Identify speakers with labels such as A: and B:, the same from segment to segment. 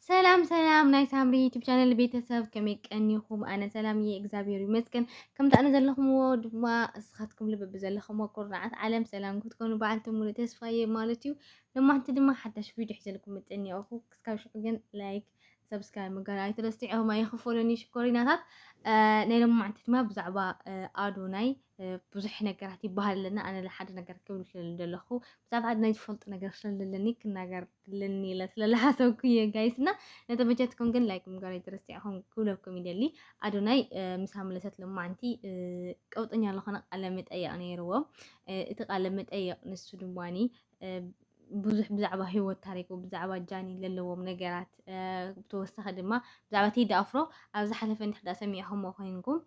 A: ሰላም ሰላም ናይ ሳምሪ ዩቱብ ቻነል ቤተሰብ ከመይ ቀኒኹም? ኣነ ሰላም እየ እግዚኣብሔር ይመስገን። ከምቲ ኣነ ዘለኹምዎ ድማ እስኻትኩም ልቢ ብዘለኹምዎ ኩርናዓት ዓለም ሰላም ክትኮኑ በዓልቲ ሙሉእ ተስፋ እየ ማለት እዩ። ለማሕቲ ድማ ሓዳሽ ቪድዮ ሒዘልኩም ምጥን እኒኦኹ ክስካብ ሽዑ ግን ላይክ ሰብስክራይብ ምግባር ኣይትረስዑ። ሆማ ይኽፈለኒ ሽኮሪናታት ናይ ለማሕቲ ድማ ብዛዕባ ኣዶናይ ብዙሕ ነገራት ይበሃል ኣለና። ኣነ ሓደ ነገር ክብል ስለለለኹ ብዛዕባ ኣዶናይ ዝፈልጡ ነገር ስለለለኒ ክናገር ክልኒ ኢለ ስለለሓሰብኩ እየ ጋይስ እና ነተመቸትኩም ግን ላይክ ምግባር ኣይትርስዕኹም ክብለኩም ይደሊ ኣዶናይ ምስ ኣምለሰት ሎማዓንቲ ቀውጠኛ ዝኾነ ቃለ መጠየቕ ነይርዎ እቲ ቃለ መጠየቕ ንሱ ድማኒ ብዙሕ ብዛዕባ ሂወት ታሪኩ ብዛዕባ ጃኒ ዘለዎም ነገራት ብተወሳኺ ድማ ብዛዕባ ቴዲ ኣፍሮ ኣብ ዝሓለፈ እንድሕዳ ሰሚዕኹምዎ ኮይንኩም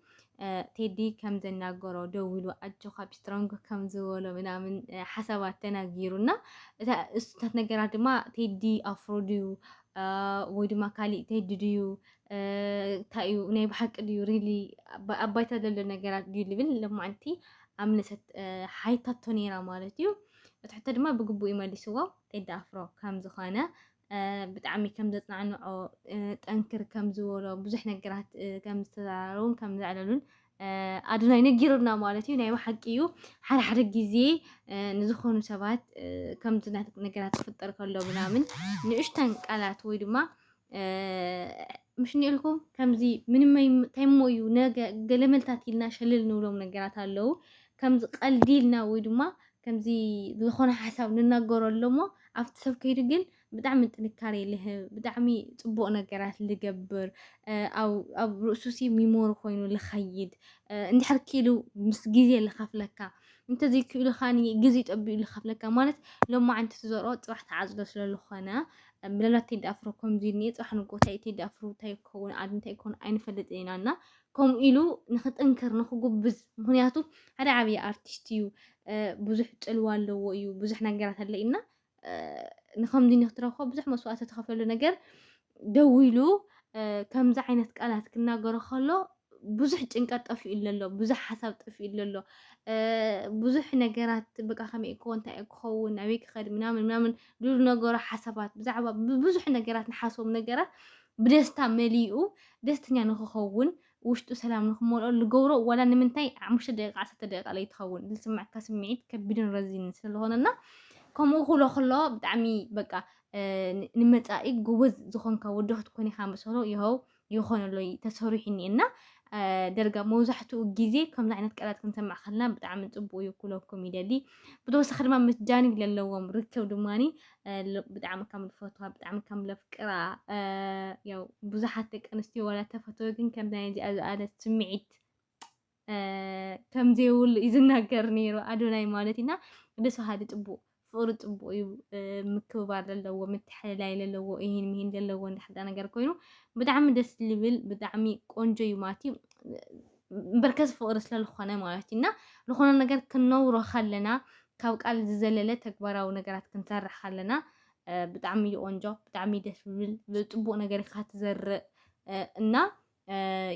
A: ቴዲ ከም ዘናገሮ ደዊሉ ኣጆኻ ቢስትሮንግ ከም ዝበሎ ምናምን ሓሳባት ተናጊሩና እታ እሱታት ነገራት ድማ ቴዲ ኣፍሮ ድዩ ወይ ድማ ካሊእ ቴዲ ድዩ እንታይ እዩ ናይ ብሓቂ ድዩ ሪሊ ኣብ ባይታ ዘሎ ነገራት ድዩ ልብል ለማዕንቲ ኣምለሰት ሓይታቶ ነይራ ማለት እዩ እቲ ሕቶ ድማ ብግቡእ ይመሊስዎ ቴዲ ኣፍሮ ከም ዝኾነ ብጣዕሚ ከም ዘጽናንዖ ጠንክር ከም ዝበሎ ብዙሕ ነገራት ከም ዝተዘራረቡን ከም ዘዕለሉን ኣዶናይ ነጊሩና ማለት እዩ። ናይ ብሓቂ እዩ ሓደ ሓደ ግዜ ንዝኾኑ ሰባት ከምዚ ነገራት ክፍጠር ከሎ ምናምን ንእሽተን ቃላት ወይ ድማ ምሽኒ ኢልኩም ከምዚ ምንም ታይሞ እዩ ነገ ገለመልታት ኢልና ሸልል ንብሎም ነገራት ኣለዉ ከምዚ ቀልዲ ኢልና ወይ ድማ ከምዚ ዝኾነ ሓሳብ ንናገሮ ኣሎሞ ኣብቲ ሰብ ከይዱ ግን ብጣዕሚ ጥንካሬ ልህብ ብጣዕሚ ጽቡቕ ነገራት ልገብር ኣብ ርእሱሲ ሚሞሪ ኮይኑ ልኸይድ እንድሕር ክኢሉ ምስ ግዜ ልኸፍለካ እንተዘይክኢሉ ኻኒ ግዜ ጠቢኡ ልኸፍለካ ማለት ሎማዓንቲ ትዘርኦ ፅባሕ ተዓፅዶ ስለዝኾነ ምናልባት ቴዲ ኣፍሮ ከምዚ እኒኤ ፅባሕ ንጎታይ ቴዲ ኣፍሮ እንታይ ክኸውን ዓዲ እንታይ ክኸውን ኣይንፈልጥን ኢና እና ከምኡ ኢሉ ንክጥንክር ንክጉብዝ ምክንያቱ ሓደ ዓብይ ኣርቲስት እዩ ብዙሕ ፅልዋ ኣለዎ እዩ ብዙሕ ነገራት ኣለ እና ንከምዚ ንክትረክቦ ብዙሕ መስዋእቲ ተኸፈሉ ነገር ደው ኢሉ ከምዚ ዓይነት ቃላት ክናገሮ ከሎ ብዙሕ ጭንቀት ጠፊኡ ኣሎ ብዙሕ ሓሳብ ጠፊኡ ኣሎ ብዙሕ ነገራት በቃ ከመይ እኮ እንታይ ክኸውን ኣበይ ክኸድ ምናምን ምናምን ድሉ ነገሮ ሓሳባት ብዛዕባ ብዙሕ ነገራት ንሓስቦም ነገራት ብደስታ መሊኡ ደስተኛ ንኽኸውን ውሽጡ ሰላም ንኽመልኦ ልገብሮ ዋላ ንምንታይ ሓሙሽተ ደቂቃ ዓሰርተ ደቂቃ ለይትኸውን ልስመዐካ ስምዒት ከቢድን ረዚንን ስለዝኾነና ከምኡ ክብሎ ከሎ ብጣዕሚ በቃ ንመፃኢ ጎበዝ ዝኾንካ ወዲ ክትኮን ኢኻ መሰሎ ይኸው ይኾነሎ ተሰሪሑ እኒአ እና ደርጋ መብዛሕትኡ ግዜ ከምዚ ዓይነት ቃላት ክንሰምዕ ከለና ብጣዕሚ ፅቡቅ እዩ ክብለኩም ይደሊ ብተወሳኺ ድማ ምስ ጃኒ ዘለዎም ርክብ ድማ ብጣዕሚ ከም ልፈትዋ ብጣዕሚ ከም ለፍቅራ ያው ብዙሓት ደቂ ኣንስትዮ ዋላ ተፈትወ ግን ከምዚ ናይ እዚኣ ዝኣለት ስምዒት ከምዘይብሉ እዩ ዝናገር ነይሩ ኣዶናይ ማለት እና ደስ በሃሊ ፅቡቅ ፍቅሪ ፅቡቅ እዩ ምክብባር ዘለዎ ምትሕልላይ ዘለዎ ይህን ምሂን ዘለዎ እንዳሕዳ ነገር ኮይኑ ብጣዕሚ ደስ ዝብል ብጣዕሚ ቆንጆ እዩ ማለት እዩ በርከት ፍቕሪ ስለልኾነ ማለት እዩ እና ዝኾነ ነገር ክንነብሮ ከለና ካብ ቃል ዝዘለለ ተግባራዊ ነገራት ክንሰርሕ ከለና ብጣዕሚ እዩ ቆንጆ፣ ብጣዕሚ ደስ ዝብል ብፅቡቅ ነገር ኢካ ትዘርእ እና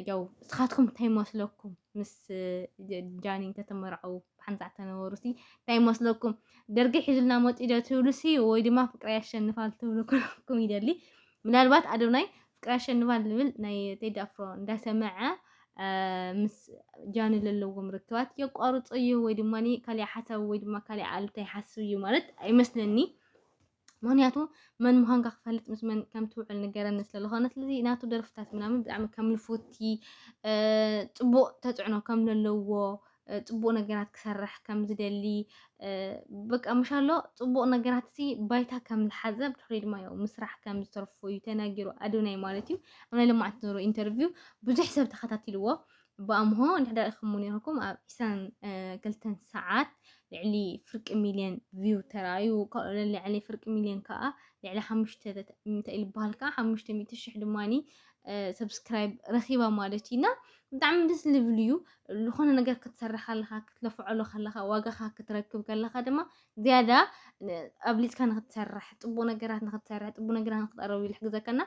A: ያው እስኻትኩም እንታይ ይመስለኩም ምስ ጃኒ እንተተመርዐው ብሓንሳ ተነበሩ ሲ እንታይ ይመስለኩም? ደርጊ ሒዙልና መፂኡ ዶ ትብሉ ሲ ወይ ድማ ፍቅሪ ያሸንፋል ትብሉ ኩልኩም ይደሊ ምናልባት ኣዶናይ ፍቅሪ ኣሸንፋን ልብል ናይ ቴዲ ኣፍሮ እንዳሰመዐ ምስ ጃኒ ዘለዎም ርክባት የቋርጾ እዩ ወይ ድማ ካልእ ሓሳብ ወይ ድማ ካልእ ኣሉታ ይሓስብ እዩ ማለት ኣይመስለኒ ምክንያቱ መን ምዃንካ ክፈልጥ ምስ መን ከም ትውዕል ንገረኒ ስለዝኾነ ስለዚ ናቱ ደርፍታት ምናምን ብጣዕሚ ከም ልፉቲ ፅቡቅ ተፅዕኖ ከም ዘለዎ ፅቡቅ ነገራት ክሰርሕ ከም ዝደሊ በቃ ምሻሎ ፅቡቅ ነገራት እዚ ባይታ ከም ዝሓዘ ብድሕሪኡ ድማ ያው ምስራሕ ከም ዝተርፎ እዩ ተናጊሩ ኣዶናይ ማለት እዩ ኣብ ናይ ልምዓት ዝነበሮ ኢንተርቪው ብዙሕ ሰብ ተኸታቲልዎ ብኣምሆ ንሕዳ ኢኹም ነይርኩም ኣብ ዒስራን ክልተን ሰዓት ልዕሊ ፍርቂ ሚልዮን ቪው ተራእዩ ልዕሊ ፍርቂ ሚልዮን ከዓ ልዕሊ ሓሙሽተ እንታይ ኢሉ በሃል ከዓ ሓሙሽተ ሚእቲ ሽሕ ድማኒ ሰብስክራይብ ረኺባ ማለት እዩ እና ብጣዕሚ ደስ ዝብል እዩ ዝኾነ ነገር ክትሰርሕ ከለኻ ክትለፍዐሉ ከለኻ ዋጋኻ ክትረክብ ከለኻ ድማ ዝያዳ ኣብሊፅካ ንክትሰርሕ ፅቡቅ ነገራት ንክትሰርሕ ፅቡቅ ነገራት ንክትቀረብ ኢሉ ሕግዘከና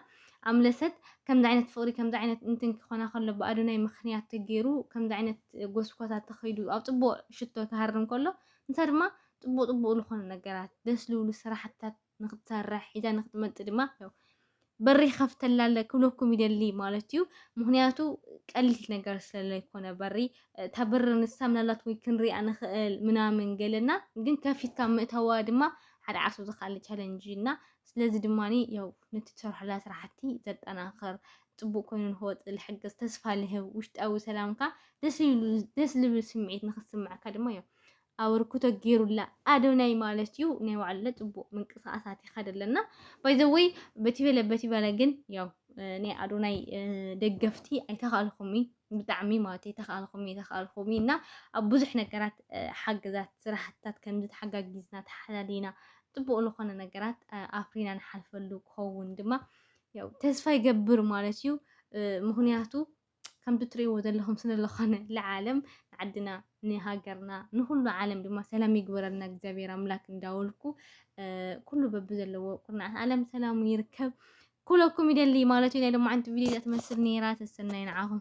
A: ኣምለሰት ከምዚ ዓይነት ፍቅሪ ከምዚ ዓይነት እንትን ክኾና ከሎ ብኣዶናይ ምክንያት ተገይሩ ከምዚ ዓይነት ጎስጓሳ ተኸይዱ ኣብ ፅቡቅ ሽቶ ክሃርም ከሎ ንሳ ድማ ፅቡቅ ፅቡቅ ዝኾኑ ነገራት ደስ ዝብሉ ስራሕትታት ንክትሰርሕ ሒዛ ንክትመጽእ ድማ በሪ ይኸፍተላለ ክብለኩም ይደሊ ማለት እዩ ምክንያቱ ቀሊል ነገር ስለለይኮነ በሪ እታ በሪ ንሳ ምናልባት ወይ ክንሪኣ ንኽእል ምናምን ገለና ግን ከፊትካ ምእታዋ ድማ ሓደ ዓርሱ ዝካለ ቻለንጅ እና ስለዚ ድማ ያው ነቲ ትሰርሐላ ስራሕቲ ዘጠናኽር ፅቡቅ ኮይኑ ንክወፅ ዝሕግዝ ተስፋ ልህብ ውሽጣዊ ሰላምካ ደስ ልብል ስምዒት ንክስምዐካ ድማ ያው ኣበርክቶ ጌሩላ ኣዶናይ ማለት ዩ ናይ ባዕልና ጽቡቅ ምንቅስቃሳት ይኸድ ኣለና ባይ ዘ ወይ በቲ በለ በቲ በለ ግን ያው ናይ ኣዶናይ ደገፍቲ ኣይተኻልኹም ብጣዕሚ ማለት ኣይተኻልኹም ኣይተኻልኹም እና ኣብ ብዙሕ ነገራት ሓገዛት ስራሕትታት ከምዚ ተሓጋጊዝና ተሓላሊና ጽቡቅ ዝኾነ ነገራት ኣፍሪና ንሓልፈሉ ክኸውን ድማ ያው ተስፋ ይገብር ማለት ዩ ምክንያቱ ከምቲ ትርእይዎ ዘለኹም ስለ ዝኾነ ልዓለም ንዓድና ንሃገርና ንኹሉ ዓለም ድማ ሰላም ይግበረልና እግዚኣብሔር ኣምላክ እንዳወልኩ ኩሉ በቢ ዘለዎ ኩርናዓት ዓለም ሰላሙ ይርከብ ኩለኩም ይደሊ ማለት እዩ ናይ ሎማዓንቲ ቪድዮ እዚኣ ትመስል ነይራ ተሰናይ ንዓኹም